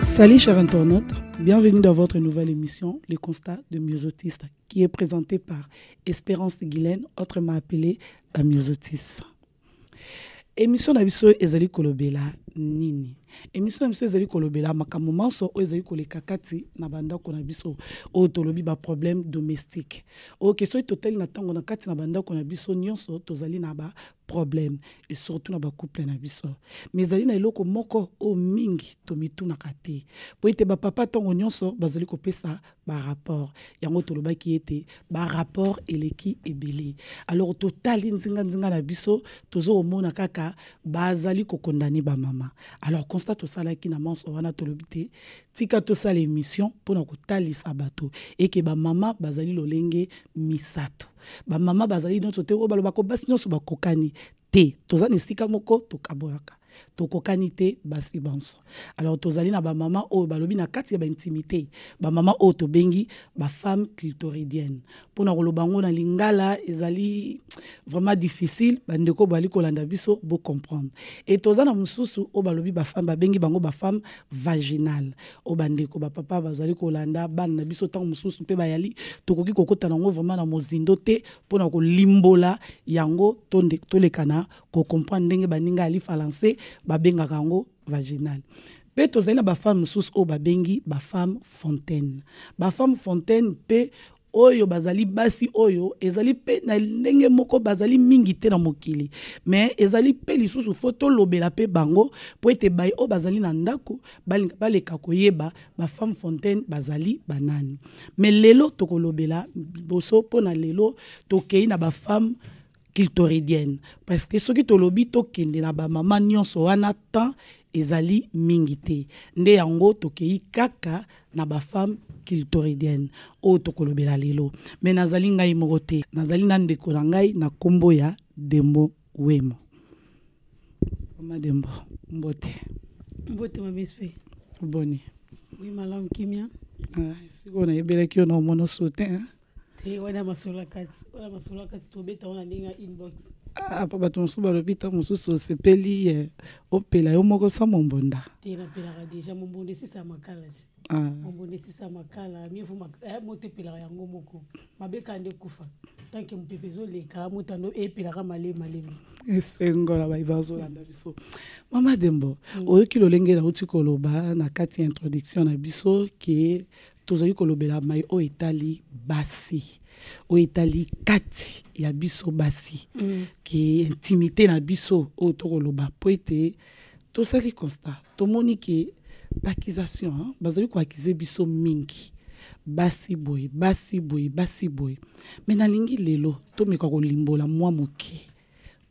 Salut chers internautes, bienvenue dans votre nouvelle émission Le constat de Myosotis qui est présentée par Espérance Guylaine, autrement appelée la Myosotis. Émission na biso ezali kolobela nini? Émission na biso ezali kolobela makambo manso oyo ezali koleka kati na bandako na biso oyo tolobi ba problème domestique. Oyo ke soki totali na ntango na kati na bandako na biso nyonso tozali na ba problème et surtout na ba couple na biso mais ezali na eloko moko oyo mingi tomitunaka te mpo ete bapapa ntango nyonso bazali kopesa barapport yango tolobaki ete barapport eleki ebele alors totali nzinganzinga na biso tozo komona kaka bazali kokondane bamama alors constat tosalaki na manso wana tolobi te tika tosala émission mpo na kotalisa bato eke bamama bazali lolenge misato Ba mama bazali nionso te oyo balobaka basi nionso bakokani te. Toza na esika moko tokabolaka. Tokokani te basi banso. Alors tozali na ba mama oyo balobi na kati ya ba intimite, ba mama oyo tobengi ba femmes clitoridiennes. Pona koloba yango na lingala ezali vraiment difficile, ba ndeko bali kolanda biso bo comprendre. Et toza na mususu oyo balobi ba femmes babengi bango ba femmes vaginales. o bandeko bapapa bazali kolanda bana na biso ntango mosusu mpe bayali tokoki kokota nango vraimen na mozindo te mpo na kolimbola yango tolekana kocomprendre ndenge baninga ya lifalanse babengaka yango vaginal mpe tozali na bafame mosusu oyo babengi bafame fontaine bafame fontaine mpe oyo bazali basi oyo ezali mpe na ndenge moko bazali mingi te na mokili me ezali mpe lisusu fo tolobela mpe bango mpo ete bai oyo bazali na ndako balinga baleka koyeba bafemme fontaine bazali banani me lelo tokolobela liboso mpo na lelo tokei na bafemme clitoridienne parce que soki tolobi tokende na bamama nyonso wana temps ezali mingi te nde yango tokei kaka na bafemme clitoridienne oyo tokolobela lelo me nazali ngai moko te nazali na ndeko na ngai na nkombo ya dembo wemo mama dembo mbote mbote mamispe boni oui malamu kimia ah, sikoyo nayebelaki yo na omono sote te wana masolo ya kati wana masolo ya kati tobeta wana ndenge ya inbox ah, po bato mosusu balobi ntango mosusu osepeli eh, opela yo moko sa mombonda te napelaka deja mombonda esisa makala ti ah. mombonda esisa makala mievu eh, moto epelaka yango moko mabeka nde ekufa tanke mopepe ezoleka moto ando epelaka malemi malemi esengola baye bazolanda biso mama dembo mm. oyoki lolenge nauti koloba na kati ya introduction na biso ke tozali kolobela mai oyo etali basi oyo etali kati ya biso basi mm. ki intimité na biso oyo tokoloba mpo ete tosali constat tomoni ke baccusation hein, bazali koakize biso mingi basi boye basi boye basi boye me nalingi lelo tomeka kolimbola mwa moke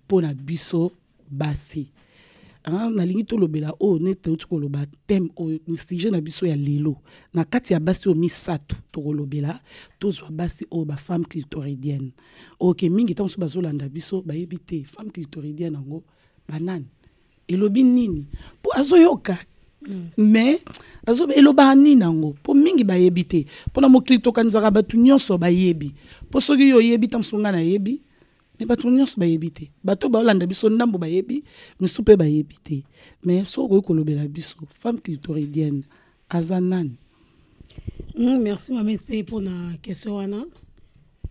mpo na biso basi ah, nalingi tolobela oyo oh, neti touti koloba teme oyo oh, sujet na biso ya lelo na kati ya basi oyo oh, misato tokolobela tozwa basi oyo bafemme clitoridienne oke mingi ntango mosusu bazolanda biso bayebi te femme clitoridienne yango banani elobi nini mpo azoyoka mm. mais azo elobaka nini yango mpo mingi bayebi te mpo na mokili tokanisaka bato nyonso bayebi mpo soki yo oyebi ntango mosusu ngai nayebi me bato nyonso bayebi te bato baolanda biso ndambo bayebi misu mpe bayebi te me soki okoki kolobela biso femme clitoridienne aza nani mm, merci mama espe mpo na question wana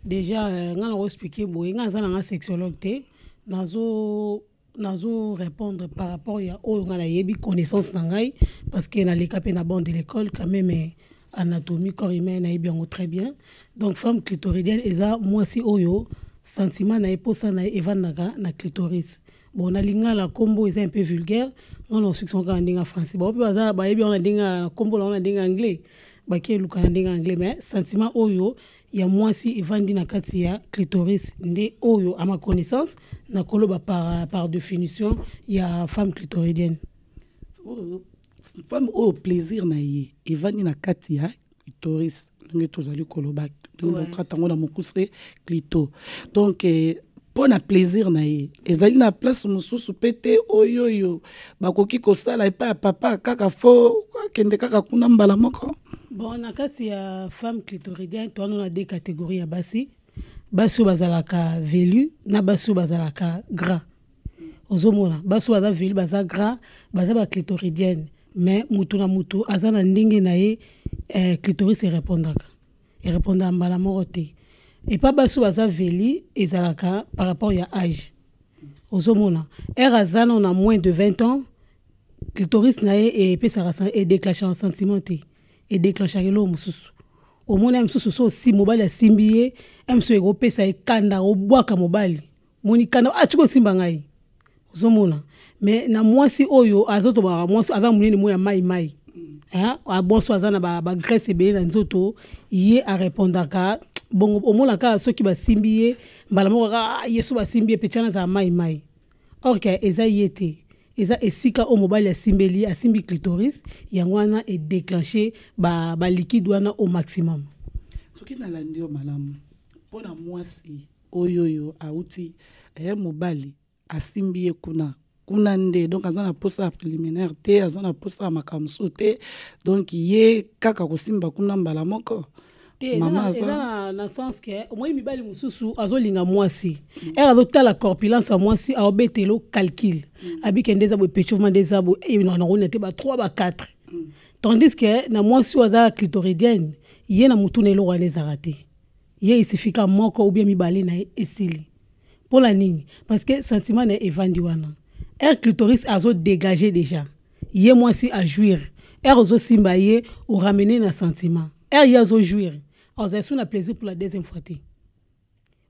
déjà euh, ngai nakoexplike boye ngai aza na ngai sexologue te nazo nazo répondre par rapport ya oyo ngai nayebi connaissance na ngai parce que naleka mpe na bande de l'école quand même eh, anatomie corps humain nayebi yango très bien donc femme clitoridienne eza mwasi oyo sentiment na ye mposa na ye evandaka na clitoris bon na lingala nkombo eza un peu vulgaire ngai naosuki sango kaka ndenge ya français bango mpe baza bayebi yango na ndenge na nkombo na yango na ndenge ya anglais bakeluka na ndenge ya anglais mais sentiment oyo ya mwasi evandi na kati ya clitoris nde oyo à ma connaissance nakoloba par, par définition ya femme clitoridienne oh, femme oyo plaisir na ye evandi na kati ya clitoris ndenge tozali koloba tokata yango na mokuse clito donc eh, mpo na plaisir na ye ezali na place mosusu mpe te oyoyo bakoki kosala epai ya papa kaka fo akende kaka kuna mbala moko Bon, na kati ya femme clitoridienne, toi nous na deux catégories ya basi. Basi oyo bazalaka velu na basi oyo bazalaka gras. Ozomona, basi oyo baza velu baza gras, baza ba clitoridienne. Mais mutu na mutu aza na ndenge na ye eh, clitoris erepondaka. Erepondaka mbala moko te. Epa basi oyo baza velu ezalaka par rapport ya âge. Ozomona, ère aza nano na moins de 20 ans, clitoris na ye epesaka edeclenchaka sentiment te edeclenchaka eloko mosusu omoni ya mosusu so osi mobali asimbi ye ya mosusu ekopesa ye kanda obwaka mobali moni kanda ati ah, kosimba ngai ozomona me na mwasi oyo azotobaka mwasi aza monene mo ya mai mai abonso aza na bagrèce ba ebele na nzoto ye arepondaka bongo omonaka soki basimbi ye mbala moko kaka ah, yesu basimbi ye mpe tyana azala mai mai or que eza ye te eza esika oyo mobali asimbeli ye asimbi clitoris yango wana edeclenche baliquide ba wana au maximum soki nalandi yo malamu mpo na mwasi oyoyo auti eh, mobali asimbi ye kuna kuna nde donc aza na mposa ya préliminaire te aza na mposa ya makambo mosusu te donc ye kaka kosimba kuna mbala moko te eza na, na sens ke omoni mibali mosusu azolinga mwasi mm. ere azotala corpulence ya mwasi aobetelo calcul mm. abike nde eza boye pechevement nde eza boye eh, nanakoni te ba 3 ba 4 mm. tandis ke na mwasi oyo aza clitoridienne ye na motuna eloko wana ezaka te ye esifika moko ubie mibale na ye esili mpo na nini parce que sentiment na ye evandi wana ere clitoris azodegage déjà ye mwasi a jouir heure ozosimba ye oramene na sentiment heure ye azo jouir azali so na plaisir pour la deuxième fois te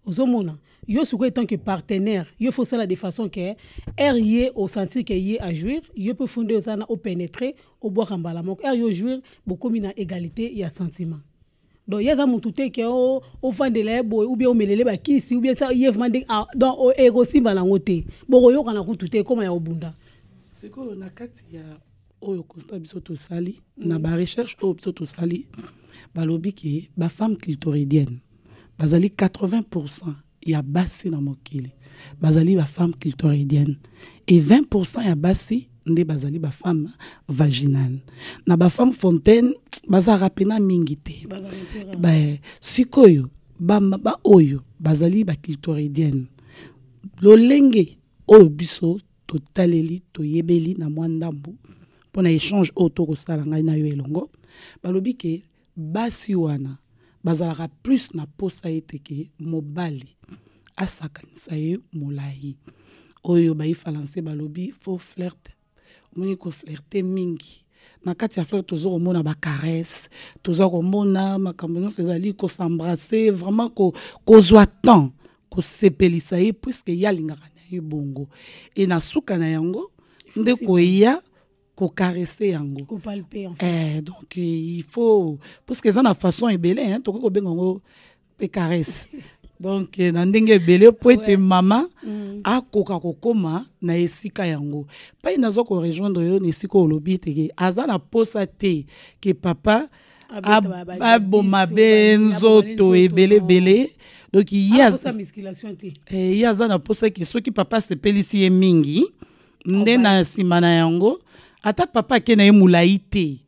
ozomona yo sikoyo etant que partenaire yo fo osala de façon ke heure ye osentir ke ye ajouir yo mpe fo nde oza na opénétre obwaka mbala moko heure yo ojouir bokomi na égalité ya sentiment donc ye aza mutu te ke ofandela ye boye ou bien omelele bakisi ou bien sa ye vraiment ndenge ah, donc ekosimba eh, nango te bokoyokana kutu te ekoma ya kobunda sikoyo na kati ya oyo constat biso tosali mm. na barecherche oyo biso tosali balobi ke bafemme clitoridienne bazali 80 pourcent ya basi na mokili bazali ba femme clitoridienne et 20% ya basi nde bazali ba femme vaginale na ba femme fontaine bazalaka pena mingi te sikoyo baoyo ba bazali ba clitoridienne lolenge oyo biso totaleli toyebeli na mwa ndambo mpo na echange oyo tokosala ngai na yo elongo balobi ke basi wana bazalaka plus na posa ete ke mobali asakanisa ye molayi oyo bayi falanse balobi fo flirte omoni koflirte mingi na kati ya flirte toza komona bacaresse toza komona makambo nyonso ezali kosembrase vraiment kozwa ko temps kosepelisa ye puiske ye alingaka na ye bongo e na suka na yango nde koya ko caresser yango ko palper en fait eh donc il faut parce que ça na façon ebele hein to ko benga ngo pe caresse donc eh, na ndenge ebele mpo ete mama mm. akoka kokoma na esika yango mpai naza korejoindre yo na esika olobi eteke aza na mposa te ke papa aboma be nzoto ebeleebele donc ye eh, aza na mposa ke soki papa asepelisi ye mingi nde na nsima na yango ata papa ake na ye molai te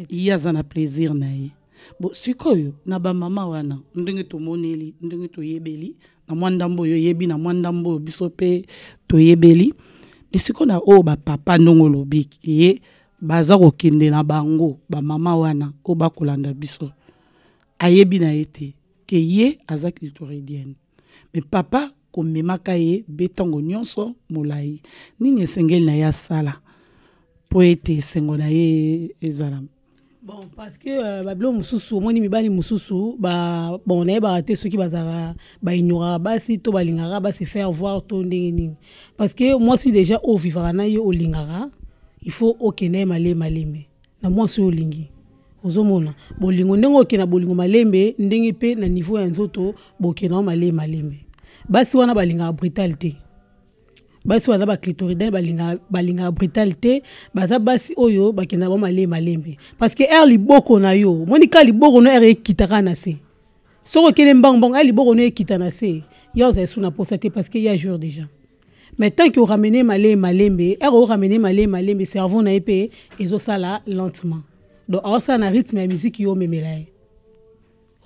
ye aza na plaisir na ye bo sikoyo na bamama wana ndenge tomoneli ndenge toyebeli na mwa ndambo oyo oyebi na mwa ndambo oyo biso mpe toyebeli me sikoyo na oyo bapapa ndongo olobi ye baza kokende na bango bamama wana oyo bakolanda biso ayebi na ye te ke ye aza clitoridienne me papa komemaka ye be ntango nyonso molai nini esengeli na ye asala mpo ete esengo na ye ezala bon parce que euh, babilo mosusu omoni mibali mosusu bon nayebaka te soki bazalaka baignoraka basi to balingaka basi faire voir to ndenge nini parce que mwasi déjà oyo ovivaka na ye olingaka il faut okende ye malemi malemi na mwasi oyo olingi ozomona bolingo ndenge oke na bolingo malembe ndenge mpe na niveau ya nzoto boke na yo malee malembe basi wana balingaka brutale te basi oyo baza baclitoridan balingaka brutale te baza basi oyo bakendaka ba malee malembe parce que ere liboko na yo omoni kaka liboko no ere ekitaka na se soki okende mbangu mbangu ere liboko no ekita na se ya ozali su na mposa te parce que ya jour déjà mais tant que oramene male malembe ere oramene male malembe cerveau na ye mpe ezosala lentement donc aosala na rythme ya miziki yo omemela ye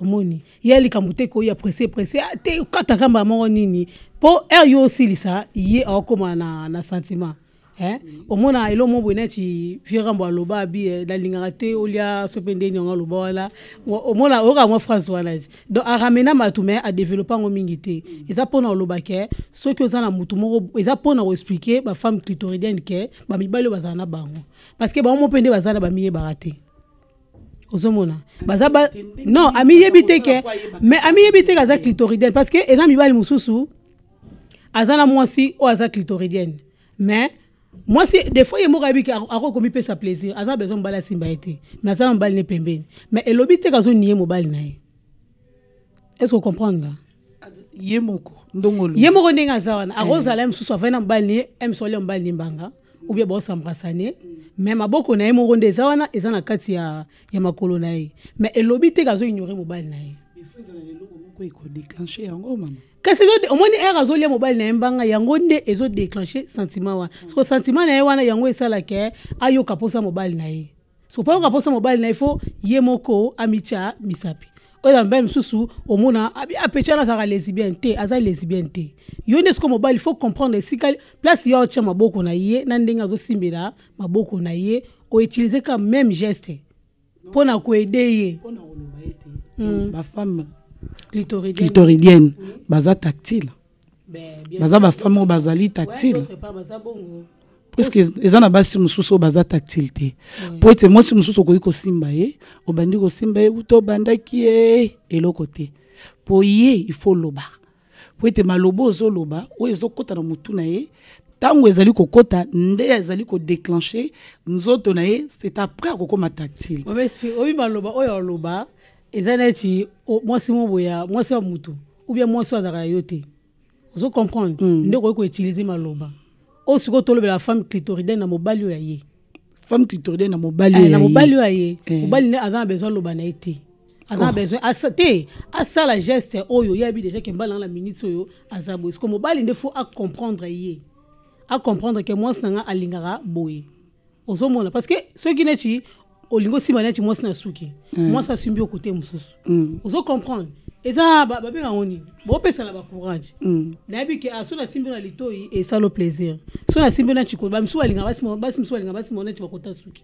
omoni ye likambo te koya presse presse ah, te okata kamba moko nini mpo ere yo osilisa ye aokoma na, na sentiment Eh? omona elo mo boye neti vieux rambo aloba abi eh, nalingaka te olia sope nde niongo aloba wana omona oyoka yango phrase wana ti donc aramena bato mai adeveloppe yango mingi te eza mpona oloba ke soki oza na motu moko eza mpona koexplike bafemme clitoridienne ke bamibali oyo bazala na bango parce que bango mo mpe nde baza na bamiyebaka te ozomona baza ba non amiyebi te ke mais amiyebi te ke aza clitoridienne parce que eza mibali mosusu aza na mwasi oyo aza clitoridienne mais mwasi des fois ye moko ayebi ke akoki komipesa plaisir aza besoin mobali asimba ye te mais aza na mobali ne pembeni mais elobi te kazo nie mobali na ye est ce ocomprendre nga ye moko ndongolo ye moko ndenge aza wana akozala ye mosusu avai na mobali ne ye emsoli ya mobali ne mbanga ou bien baosambrasane mais maboko na ye moko nde eza wana eza na kati ya, ya makolo na ye mais elobi te kazo ignore mobali na ye il faut ezala leloko moko ekodeclenche yango mama kasi omoni ere azolia mobali na ye mbanga yango nde ezodeclenche sentiment wana soko sentiment na ye wana yango esalaka ayoka mposa mobali na ye soko mpo ayoka mposa mobali na ye fo ye moko amitya misapi oyo mobali mosusu omona apecha wana azalaka lesbienne te aza lesbienne te yo nde soko mobali fo comprendre esika place ya otya maboko na ye na ndenge azosimbela maboko na ye outilize ka meme geste mpo na koede ye hmm. bafemme clitoridienne baza tactile baza bafemme oyo bazali tactile puiske eza na basi mosusu oyo baza tactile te mpo ete mwasi mosusu okoki kosimba ye obandi kosimba ye uta obandaki ye eloko te mpo ye ifo loba mpo ete maloba ozoloba oyo ezokota na motu na ye ntango ezali kokota nde ezali kodeclenche nzoto na ye c'est après akokoma tactile oyebi maloba oyo aloba eza neti mwasi moko boya mwasi ya motu oubien mwasi oyo azalaka yo te ozo comprendre mm. nde okoki koutilize maloba oyo sikoyo tolobela femme clitoridienne na mobali oyo ya ye femme clitoridienne na mobali eh, oyo na mobali oyo ya ye eh. mobali nde aza na besoin aloba na ye te aza na oh. besoin asa te asala geste oyo ye abi déjà ke mbala na minute oyo aza boye siko mobali nde faut acomprendre ye acomprendre ke mwasi na ngai alingaka boye ozomona parce que soki neti olingi osimba neti mwasi na suki mm. mwasi asimbi okote mosusu mm. ozo comprendre eza babenga yango nini bopesana bacourage mm. nayebi ke ah, so nasimbi na litoi esalo plaisir so nasimbi na chikolo bamisusu balinga basi misusu balinga basi mona neti bakota suki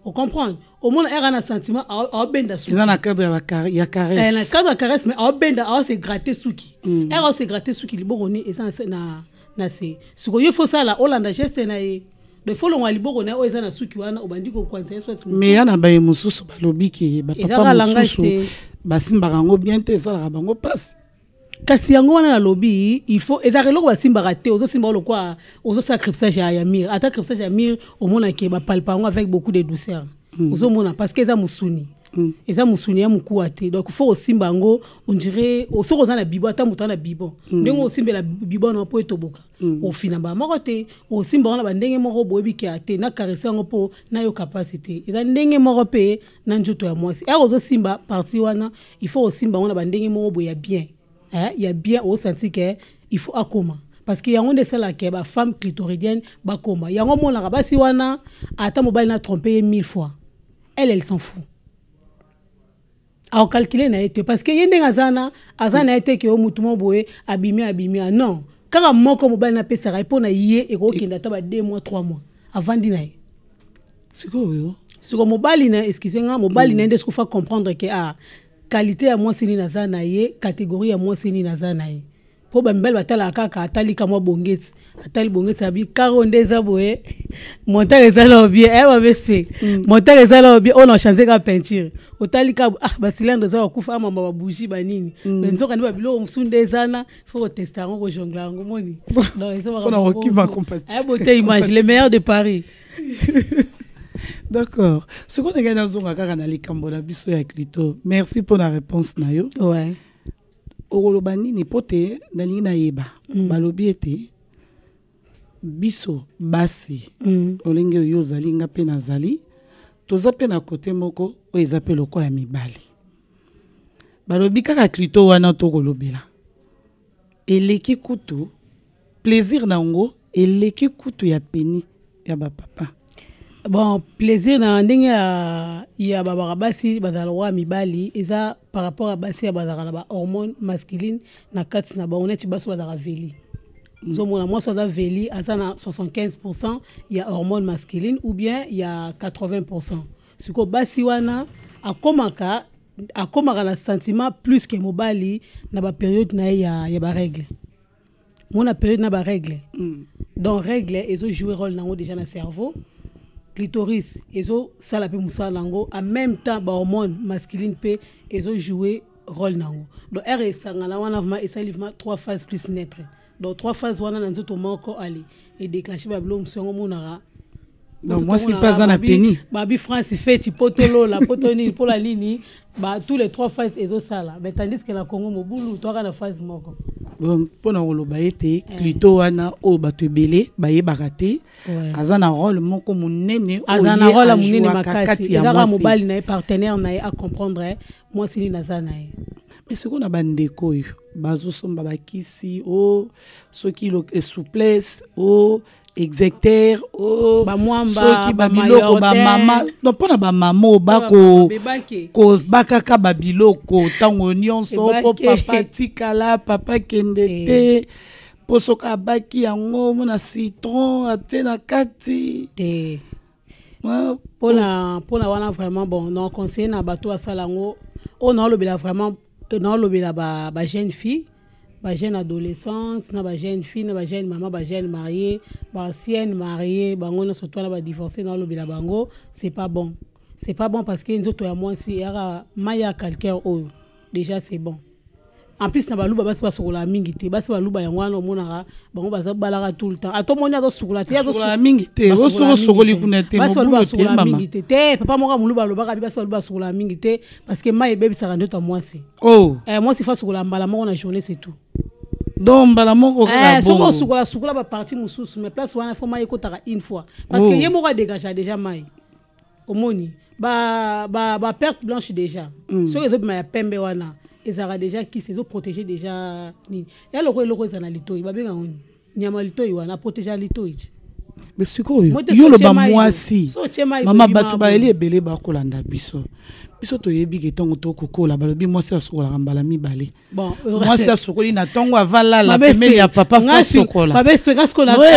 ocomprendre omona eka na sentiment aobenda sukieza na cadre ya caresse eh, na cadre ya caresse mais aobenda aose gratte suki eka ose gratte suki liboko ni eza na na se siko yo fosala olanda geste na ye de fo longwa liboko na ye oyo eza na suki wana obandi kokwanisa ye swati me ya na baye mosusu balobi ke bapapa mosusu basimbaka yango bien te esalaka bango mpasi kasi yango wana nalobi il faut ezalaka eloko basimbaka te ozosimba lokola ozosala cripsage ya mire ata cripsage ya mire omonake bapalpa yango avec beaucoup de douceur hmm. ozomona parce que eza mosuni Mm. eza mosuni ya mokuwa te donc fo osimba yango ondire soki oza na bibo ata moto ana bibo mm. ndenge osimbela bibo wana mpo etoboka mm. ofina mbala moko te osimba yango na bandenge moko boyebi kea te nakarese yango mpo nayoka mpasi te eza ndenge moko mpe na nzoto ya mwasi ere ozosimba parti wana il faut osimba yango na bandenge moko boye ya bien eh, ya bien osanti ke il faut akoma parce que yango nde esalaka bafemme clitoridienne bakoma yango omonaka basi wana ata mobali na trompe ye mille fois elle elle s'en fout akokalkile na ye te parce que ye ndenge aza na aza na ye te ke o motu mo boye abimi abimi a non kaka moko mobali napesaka ye mpo na ye ekokokende ata ba 2 mois 3 mois avandi na ye sikoyo siko mobali na excuse nga mobali na ye nde sikofa comprendre ke a ah, qualité ya mwasi nini aza na ye catégorie ya mwasi nini aza na ye mpo bamibali batalaka kaka atali kamwa bongeti atali bongeti abi karo nde eza boye montare eza lao bien eh, babespe mm. montare eza lao bien oyo na change ka peinture otali ka ah basilando eza bakufa amamba ah, babougi banini mm. me nzoka nde babiloko mosusu nde eza na fo kotesta yango kojongla yango moni eh, bote image le meilleur de paris d'accord sikoyo ndenge nazonga kaka na likambo na biso ya clito merci mpo na réponse na yo ouais. okoloba nini mpo te nalingi nayeba mm. balobi ete biso basi mm. lolenge oyo ozali nga mpe nazali toza mpe na kote moko oyo eza mpe lokola ya mibali balobi kaka klito wana tokolobela eleki kutu plaisir na yango eleki kutu ya peni ya bapapa bon plaisir na ndenge ya, ya babaka basi bazala lokola mibali eza par rapport ya basi ya bazalaka na bahormone masculine na kati na bango neti basi bazalaka veli ozomona mwasi aza veli aza na 75 pourcent ya hormone masculine ou bien ya 80 pourcent sikoyo basi wana akomaka akomaka na sentiment plus ke mobali na baperiode na ye ya, ya barègle mona periode na barègle mm. donc règle ezojoue rôle na yango déjà na cerveau clitoris ezosala mpe mosala na yango en même temps bahormone masculine mpe ezojoue rôle na yango donc r esangana wana vraimen esali vraimen trois phase plus netre donc trois phase wana na nzoto moko ali edeclenche babiloko mosusu yango omonaka donc mwasi mpe aza na peni babi france feti mpo tolola mpo to nini mpola nini ba tous les trois phase ezosala mais tandis que na congo mobulu toaka na phase moko mpo na koloba ete eh. clito wana oyo bato ebele bayebaka te aza na role moko monene aza na role monene makasi ezaka mobali na ye partenaire na ye acomprendre mwasi nini aza na ye mais sikoyo na bandeko oyo bazosomba bakisi o oh, soki eh, souplesse o oh, execter o oh, soki babiloko bamama no mpo na bamama oyo bakobakaka babiloko ntango nyonso mpo papa tikala papa kende eh. te eh. mpo soki abaki yango mona citron atie na kati te eh. pona pona wana vraiment bon na conseiller na bato asala yango oyo naolobela vraiment naolobela ba, ba jeune fille ba jeune adolescente na ba jeune fille na ba jeune mama ba jeune marié ba ancienne marié bango nyonso to na ba divorcé naolobela bango c'est pas bon c'est pas bon parce que nzoto ya mwasi eyaka mai ya calcaire oyo déjà c'est bon en plus na baluba basi basukolaka mingi te basi baluba yango wana omonaka bango baza balaka tout le temps ata omoni azosukola te azosukola mingi te osoki osokoli kuna te basi baluba basukola mingi te te papa moko moluba alobaka bi basi baluba basukola mingi te parce que mai ebebisaka ndoto ya mwasi oh. eh, mwasi fa asukola mbala moko na journée c'est tout donc mbala moko eh, soki osukola sukola baparti mosusu mais place wana fo mai ekotaka une fois parce que oh. ye moko adegagea déjà mai omoni ba ba ba perte blanche déjà mm. soki ezobima ya pembe wana ezalaka déjà kisi ezoprotege déjà nini ya loko eloko eza na litoi babenga ngo nini nyama litoi wana aprotegeaka litoi ti me sikoyo yo oloba mwasi mama bato bayeli ebele bakolanda biso biso toyebi ke ntongo tokokola balobi mwasi asukolaka mbala mibale Bon, mwasi asokoli na ntongo avalala pembeni ya papa fo asokola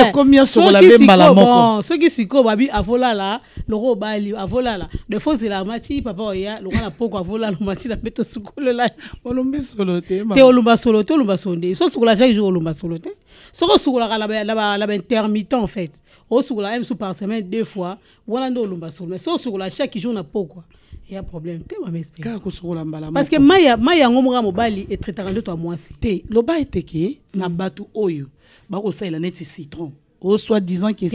ekomi asokola mpe mbala moko soki sikoyo babi avolala loko obali avolala defo ozela mati papa oya lokola na poko avolala mati na mpe tosukolela olombi solo te te olomba solo te olomba solo nde so osukola chaque jour olomba solo te soki osukolaka na baintermittent en fait osukola ye mosusu par semaine deux fois wana nde olumba solo mais so osokola chaque jour na pokwa ya problème te mamespkaka kosokola mbala parce que mai yango moka mobali etraitaka ndoto ya mwasi te loba ete ke na bato oyo bakosalela neti citron o soit disant que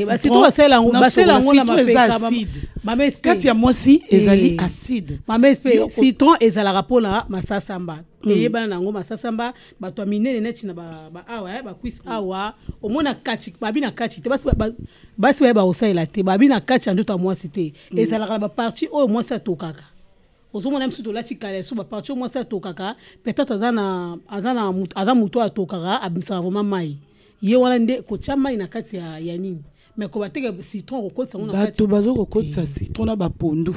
kati ya mwasi ezali eh. acide citron ezalaka mpona masasamba eyebana hmm. na yango masasamba bato ya minene neti na baawa eh, bakwisi mm. awa omona kati babi na kati te basi baye bakosalela te babi na kati ya ndoto ya mwasi te mm. ezalaka na baparti oyo mwasi atokaka ozomona biso tolati kaleso baparti oyo mwasi atokaka peut-être aza moto oyo atokaka abimisaka vraimen mai ye wana nde kotya mai na kati ya nini mais ko bateka citron ko kotisa ngona bato bazo ko kotisa eh. citron na ba pondu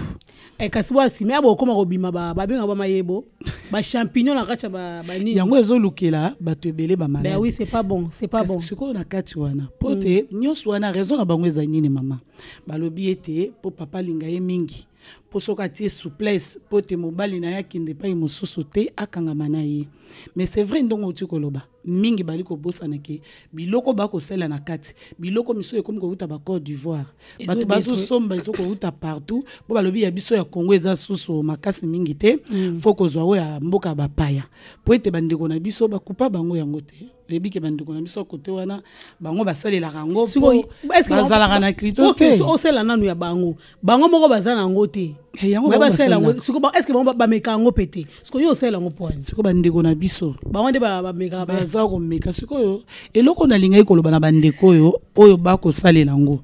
e eh, kasi bwa sima ya bokoma kobima ba ba benga ba mayebo ba champignon na kati ba ba nini yango ezo lukela bato ebele ba malade ben oui c'est pas bon c'est pas bon sikoyo na kati wana po mm. te nyonso wana raison na bango eza nini mama balobi ete po papa linga ye mingi mpo soki atie souplesse mpo te mobali na ye akende epai mosusu te akangama na ye mais c'est vrai ndongo outi koloba mingi bali kobosana ke biloko bakosala na kati biloko misusu ekomi kowuta ba Côte d'Ivoire bato bazosomba ezo kowuta partout mpo balobi ya biso ya Congo eza susu makasi mingi te mm. fo kozwa oyo ya mboka ya bapaya mpo ete bandeko na biso bakupa bango yango te oyebi ke bandeko na biso kote wana bango basalelaka yango mpo bazalaka na klito te osala nanu ya bango bango moko baza na yango te eh, basalela yango siko estce bango bameka yango mpe te siko yo osalela yango mpo wani siko bandeko na biso bango nde bameka baza komeka sikoyo eloko nalingaki koloba na bandeko oyo oyo bakosalela yango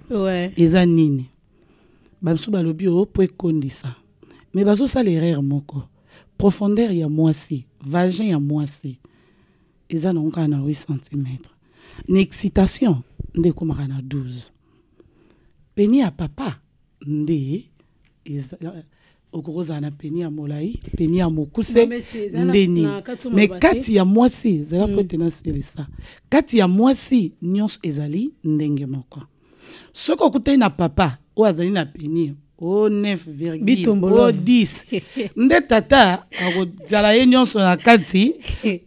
eza nini bamisusu balobi o oh, mpo ekondisa me bazosala erreur moko profondeur ya mwasi vagin ya mwasi eza nango kaka na 8 cm na excitation nde ekomaka na 12 peni ya papa nde okoki kozala na peni ya molai peni ya mokuse nde nini me kati ya mwasi ezala mpo mm. ete nasilisa kati ya mwasi nyonso ezali ndenge moko soki okutani na papa oyo azali na peni o 9 o 10 nde tata akozala ye nyonso na kati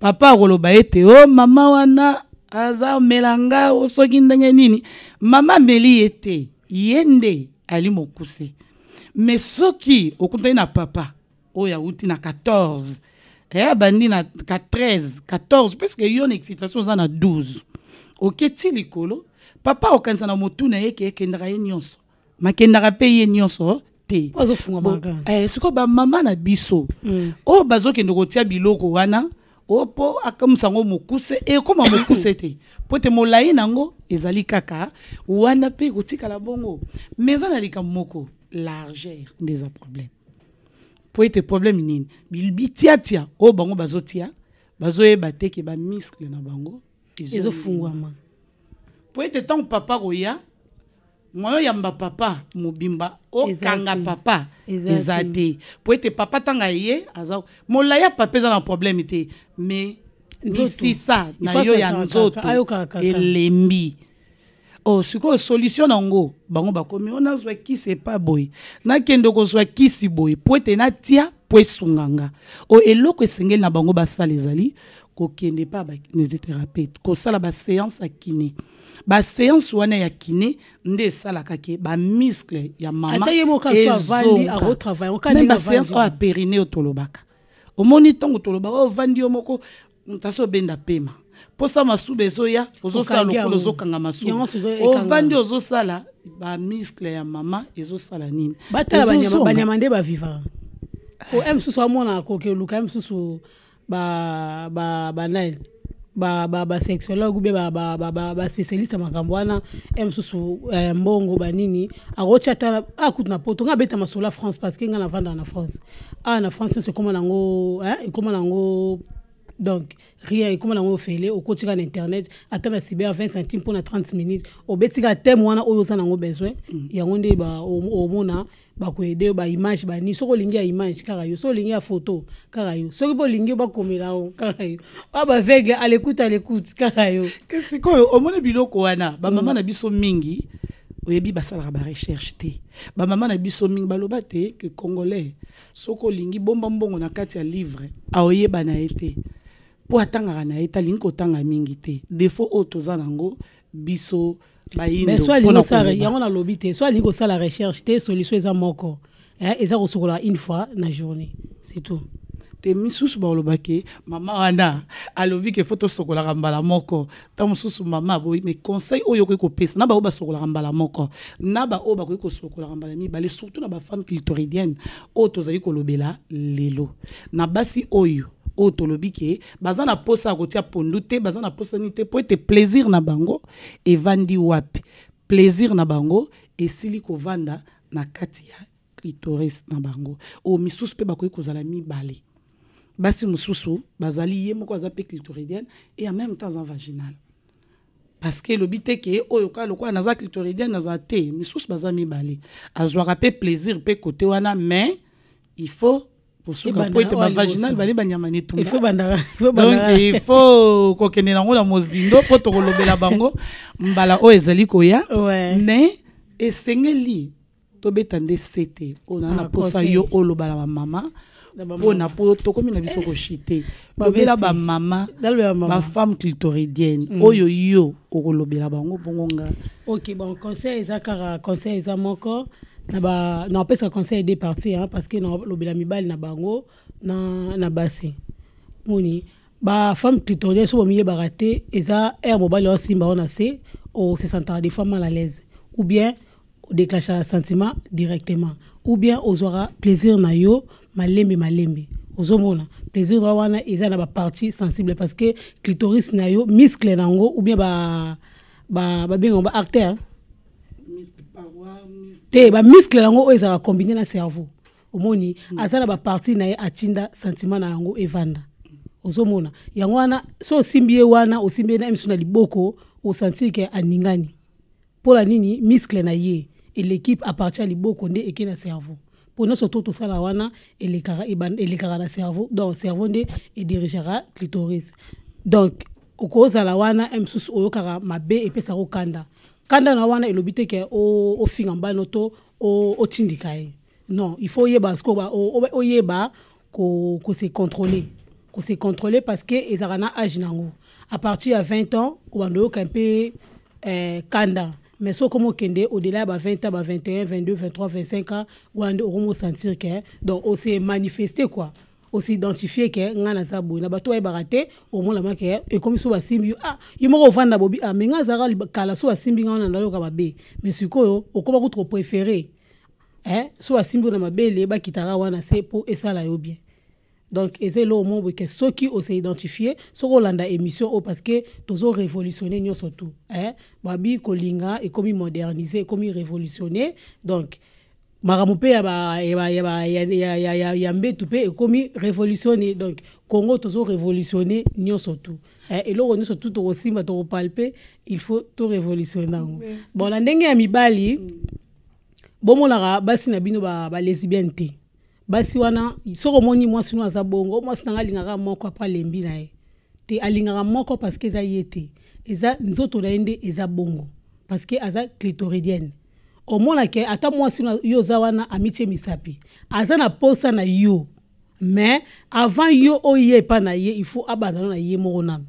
papa akoloba ete o mama wana aza omela nga o soki ndenge nini mama ameli ye te ye nde ali mokuse me soki okutani na papa oyo awuti na 14 eh, abandi na 13 14 puiske yo na excitation oza na 12 oketi likolo papa okanisa na motu na ye ke ekendaka ye nyonso makendaka mpe ye nyonso te eh, sikoyo bamama na biso mm. oyo bazokende kotia biloko wana oyo mpo akamisa yango mokuse ekóma eh, mokuse te mpo te molai na yango ezali kaka wana mpe ekotikala bongo ma eza na likambo moko largeur nde eza problème mpo ete problème nini bitiatia oyo bango bazotia bazoyeba te ke bamiskle na bango ezofungwama mpo ete ntango papa koya moyen oyamba papa mobimba okanga papa eza te mpo ete papa ntanga ye aza molai ya papa eza na problème te mais misisa na yo ya nzoto elembi oh sikoyo solution na yango bango bakomi o oh, nazwa kisi epa boye nakende kozwa kisi boye mpo ete natia mpo esunga nga o oh, eloko esengeli na bango basala ezali kokende epa bakinesithérapeute kosala baseance ya kine ba séance wana ya kiné nde esalaka ke ba muscle ya mama même ba séance oyo ya périne oyo tolobaka omoni ntango tolobaka oyo oh, ovandi yo moko moto asi obenda pema mposa masuba ezoya ozosala lokola ozokanga masuba ovandi ozosala bamiscle ya mama ezosala nini batala banyama nde baviva po eh. mosusu amonaka kokoluka mosusu ba ba ba nani ba ba ba sexologue be ba ba ba ba, ba specialiste ya makambo wana e mosusu eh, mbongo banini akotya ata akutu na poto nga abeta masolo ya france parce que nga navandaka na france awa na france nyonso ekoma nango eh, ekoma nango donc rien ekoma nango ofele okotika na internet ata na cyber 20 centime mpo na 30 minutes obetika teme wana oyo oza nango besoin yango nde ba- o- omona bakoyede yo baimage bani soki olingi ya image kaka yo soki olingi ya foto kaka yo soki mpe olingi yo bakomela yango kaka yo oyo baveugle alekute alekute kaka yo sikoyo omoni biloko wana bamama mm. na biso mingi oyebi basalaka barecherche te bamama na biso mingi baloba te ke congolais soki olingi bomba mbongo na kati ya livre aoyeba na ye te mpo atangaka na ye te alingi kotanga mingi te defo oyo toza na yango biso mais so alingi osala yango nalobi te so alingi kosala recherche te solution eza moko eh, eza kosukola une fois na journée c'est tout te misusu baloba ke mama wana alobi ke fo tosokolaka mbala moko ntango mosusu mama aboyi mais conseil oyo okoki kopesa na baoyo basokolaka mbala moko na baoyo bakoki kosokolaka mbala mibale surtout na bafemme clitoridienne oyo tozali kolobela lelo na basi oyo oyo tolobi ke baza na mposa ya kotia pondu te baza na mposa nini te mpo ete plaisir na bango evandi wapi? Plaisir na bango esili kovanda na kati ya clitoris na bango. Oyo oh, misusu pe bakoki kozala mibale. Basi mususu bazali ye moko aza pe clitoridienne et en même temps en vaginale. parce que elobi te ke oyo kaka lokola naza clitoridienne naza te misusu baza mibale azwaka mpe plaisir mpe kote wana mais il faut kosuka mpo ete bavaginal bale banyama netungdonk il faut kokende nango na mozindo mpo tokolobela bango mbala oyo ezali koya mais esengeli tobeta nde sete oyo naa na mposa yo oloba na bamama mpona mpo tokomi na biso koshite lobela bamama bafemme clitoridienne mm. oyo yo okolobela bango bongo nga ok bon conseil eza kaka conseil eza moko na ba na opesa conseil de parti hein, parce que na lobela mibali na bango na na basi moni ba femme clitoridienne so bomiyebaka te eza aire mobali osimba wana se osesantaka des fois mal à l'aise ou bien odeclenchaka sentiment directement ou bien ozwaka plaisir na yo malembe malembe ozomona plaisir na wana eza na bapartie sensible parce que clitoris na yo muscle na yango ou bien babengango ba, ba, ba artère te bamiskle yango oyo ezalaka combine na cerveau omoni mm. aza na baparti na ye atinda sentiment na yango evanda ozomona yango wana so osimbi ye wana osimbi ye na emisu na liboko osantir ke aningani Pona nini muscle na ye eleki a partir ya liboko nde eke na cerveau? Po nionso to tosala wana elekaka elekaka na cerveau donc cerveau nde e dirigeaka clitoris donc okozala wana un mosusu oyokaka mabe epesaka okanda kanda na wana elobi te ke ofinga mbano to otindika ye non il faut oyeba sikoyo oyeba ko, ko se contrôler ko se contrôler parce que ezalaka na age nango à partir ya 20 ans obanda oyoka mpe eh, kanda mais soki okomi okende au-delà ya ba 20 ans ba 21 22 23 25 ans wana nde okomi osentir ke donc ose manifeste quoi osidentifie ke ngai naza boye na bato bayebaka te omonama ke ekomi so basimbi yo ah yo moko ovanda bobi ah me ngai azalaka kala so basimbi ngai wana nayoka mabe mais sikoyo okoma kutu kopréféré eh, so basimbi na mabele bakitaka wana se mpo esala yo bien donc eza eloko moko boye ke soki ose identifie soki olanda émission oyo parce que tozo révolutionne nyonso tout eh? babi kolinga ekomi modernise ekomi révolutionne donc makambo mpe ya mbetu mpe ekomi révolutionne donc congo tozo révolutionne nyonso tout eh, eloko nyonso tout tokosimba tokopalpe il faut to révolutionne yango bon na ndenge ya mibali mm. bomonaka basi na bino ba, ba lesbienne te basi wana soki omoni mwasi no aza bongo mwasi nanga alingaka moko apres alembi na ye te alingaka moko parceke eza ye te eza nzoto na ye nde eza bongo parceke aza clitoridienne omonake ata mwasi yo oza wana amitie misapi aza na posa na yo mais avant yo oye epa na ye il faut abandana na ye moko nano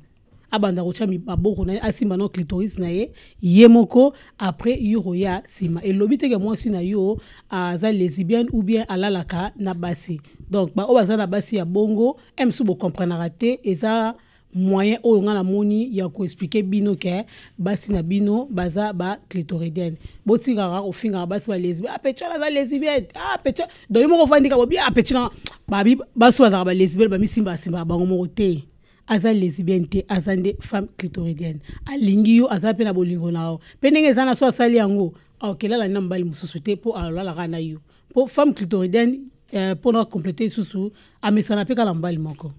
abanda kotya maboko na ye asimba no clitoris na ye ye moko après yo koya nsima elobi teke mwasi na yo aza lesibienne ou bien alalaka na basi donc baoyo baza na basi ya bongo msu bocomprenaka te eza moyen oyo ngai namoni ya koexplike bino ke basi na bino baza ba clitoridienne botikaka kofingaka basi balesibi apetion ah, aza lesibienne apetion ah, donc yo moko ofandika bobi apetion ah, basi bazalaka balesibienne bamisimba asimbaka bango moko te aza lesbienne te aza nde femme clitoridienne alingi yo aza mpe na bolingo na yo mpe ndenge eza na so asali yango aokelala na mobali mosusu te mpo alalaka na yo mpo femme clitoridienne eh, mpo na complete lisusu amesana mpe kaka na mobali moko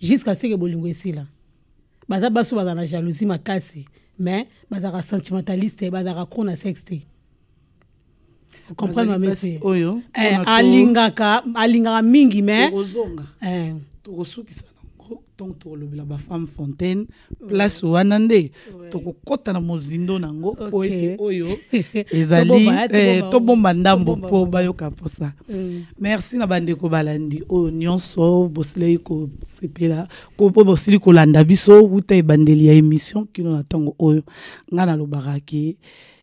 jusqu'à ce que bolingo esila baza basi bazala na jalousie makasi mais bazalaka sentimentaliste bazalaka kro na sexe te comprendre ma mese oyo eh, alingaka alingaka mingi mais ozonga eh. tokosukisa nango ntongo tokolobela bafemme fontaine place wana nde tokokɔta na mozindo nango mpo ete oyo ezali eh, tobomba ndambo mpo bayoka mposa mm. merci na bandeko balandi oyo nyonso bosilaki kosepela mpo bosili kolanda biso wuta ebandeli ya émission kino na ntango oyo ngai nalobaka ke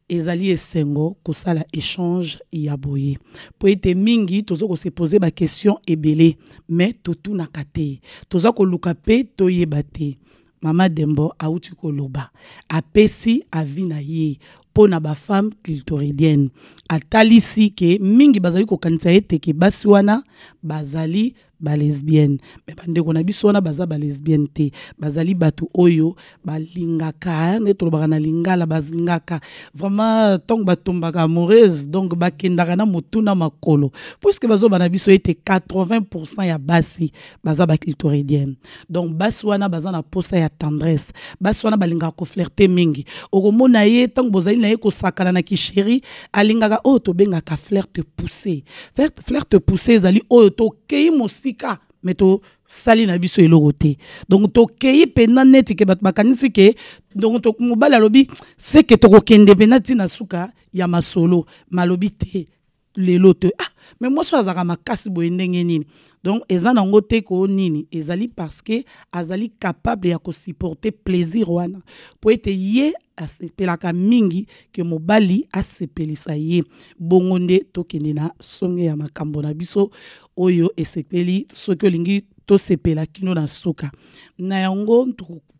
Ezali esengo kosala echange ya boye mpo ete mingi toza kose poser ba question ebele mais totunaka te toza koluka mpe toyeba te mama dembo auti koloba apesi avi na ye mpo na bafemme clitoridienne atalisi ke mingi bazali kokanisa ete ke basi wana bazali ba lesbienne mais bandeko na biso wana baza ba lesbienne te bazali bato oyo balingaka nde tolobaka na lingala balingaka vraiment ntango batombaka amoureuse donc bakendaka na motu na makolo puiske bazoba na biso ete 80 pourcent ya basi baza baclitoridienne donc basi wana baza na posa ya tendresse basi wana balingaka koflirte mingi okomona ye ntango bozali na ye kosakana na kisheri alingaka oyo tobengaka flirte pousse flirte pousse ezali oyo tokei mosika me tosali na biso eloko te donc tokei mpenza neti ke bato bakanisi ke donc mobali alobi seke tokokende mpenza ntina suka ya masolo malobi te lelo te ah mais mwasi oyo azalaka makasi boye ndenge nini donc eza nango te ko nini ezali parce que azali capable ya kosupporte plaisir wana mpo ete ye asepelaka mingi ke mobali asepelisa ye bongo nde tokende na songe ya makambo na biso oyo esepeli soki olingi tosepela kino na suka na yango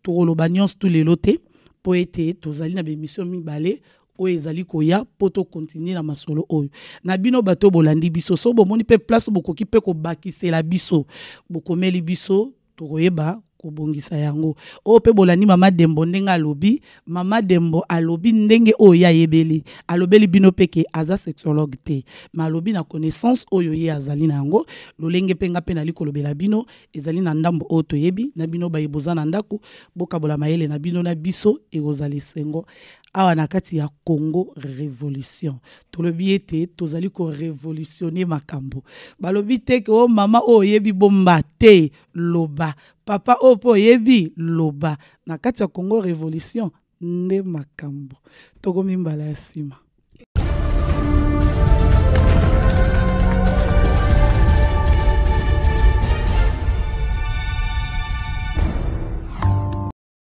tokoloba nyonso tu lelo te mpo ete tozali na bemission mibale oyo ezali koya mpo tokontinue na masolo oyo na bino bato oyo bolandi biso so bomoni mpe place bokoki mpe kobakisela biso bokomeli biso tokoyeba kobongisa yango oyo mpe bolandi mama dembo ndenge alobi mama dembo alobi ndenge oyo ye ayebeli alobeli bino mpe ke aza sexologue te ma alobi na connaissance oyo ye azali na yango lolenge mpe nga mpe nali kolobela bino ezali na ndambo oyo toyebi na bino baye boza na ndako bokabola mayele na bino na biso ekozala esengo awa na kati ya congo révolution tolobi ete tozali korevolutionne makambo balobi te ke o oh, mama oyo oyebi bomba te loba papa oyo mpo oyebi loba na kati ya congo révolution nde makambo tokomi mbala ya nsima